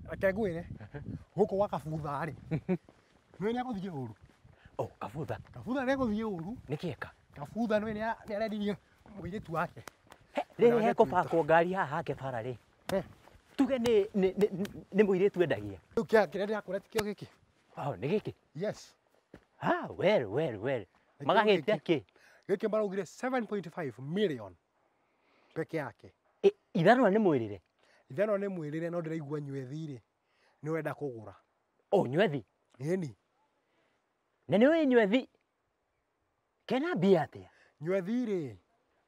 reke ngwĩre gũkũ gwa kabutha rĩ nĩ nĩ agũthiĩ ũru o kabutha kabutha nĩ agũthiĩ ũru nĩ kĩeka kabutha nĩ nĩ aredirie mũirĩtu wake rĩrĩ Ndagĩtuĩka. hekũbakwo ngari haha hake bara rĩ Eh. tuge nĩ- nĩ- nĩ- nĩ mũirĩtu endagia rĩu kĩa kĩrĩa ndĩrakũra ti kĩo gĩkĩ Wow, nĩ gĩkĩ yes Ah, well, well, well. Nĩkĩo magagĩtia gĩkĩ. kĩ gĩkĩ maraugire 7.5 million peke yake. Ĩ, ithanwa nĩ mwĩrĩre? Ithanwa nĩ mwĩrĩre no ndĩraigua nywethi-rĩ, nĩ wenda kũgũra. O, nywethi? Ĩni. Na nĩ ũĩ nywethi kena mbia atĩa? Nywethi-rĩ,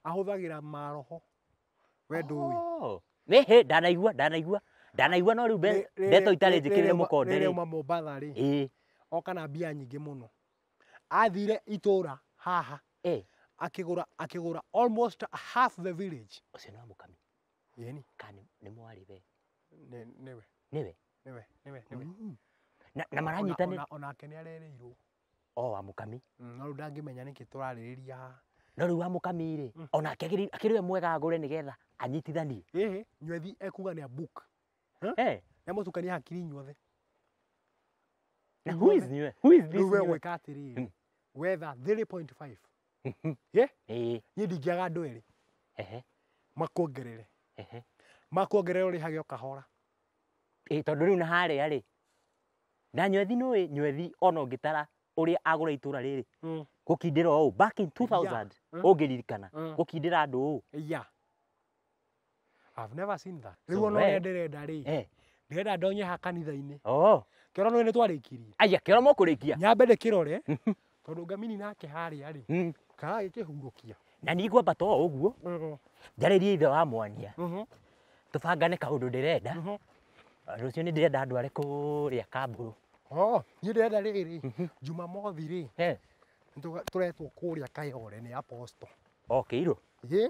ahũthagĩra maroho. We ndũĩ. Oh, Nĩ hĩ, ndanaigua, ndanaigua, ndanaigua no rĩu mbe- Rĩ- rĩ- ndeto itarĩ rĩ- njĩkĩrĩre rĩrĩa uma- mũkonde Rĩrĩa rĩ. uma Mombatha-rĩ, Ĩ, oka na mbia nyingĩ mũno. athire itũra haha Eh, akĩgũra akĩgũra almost half the village ũcio nĩ wa mũkami yeni kana nĩ- nĩ mwarĩ we nĩ- nĩwe nĩwe nĩwe nĩwe nĩwe Mm. na, na maranyitanĩra Ona- ona- onake nĩ arereirwo o wa mũkami Mm, no rĩu ndangĩmenya nĩkĩ tũrarĩrĩria haha no rĩu wa mũkami rĩ onake akĩrĩ akĩrĩ we mwega agũre nĩgetha anyitithanie ĩhĩ nywethi ekuga nĩ a book Huh? Eh, na mũtukania hakiri inyuothe na who is new? Who is this rĩu we new? gwĩka atĩrĩrĩ Mm. wetha 3.5 Mhm. ye Eh, niĩ ndingĩaga andũ erĩ ehe, makuongerere ehe. makuongerere ũrĩhage o kahora Eh, tondũ rĩu na harĩa rĩ na nyothi nũĩ nyothi ona ũngĩtara ũrĩa agũra itũra rĩrĩ gũkindĩra ũũ back in 2000 Mm. ũngĩririkana Mm. gũkindĩra andũ ũũ ya I've never seen that. Rĩu So, ona we- ũrĩa ndĩrenda rĩ, Eh. ndĩrenda ndonye ha kanitha-inĩ. Oh. Kĩoro nĩ twarĩkirie. Aya kĩoro mũkũrĩkia. Nyambe ndĩkĩrore, tondũ ngamini nake harĩa rĩ, Mm. karagĩkĩhurũkia. Na niĩ ngwamba to ũguo Mhm, njarĩrie ithe wa mwania. mhm, Tũbangane kaũndũ ndĩrenda. mhm. Rũciũ nĩ ndĩrenda andũ arĩ kũrĩa kamburu. Oh, niĩ ndĩrenda rĩrĩ, Jumamothi rĩ, Eh. nĩtũga- tũretwo kũrĩa Kayole nĩ Apostle. Okĩirwo. Ĩ,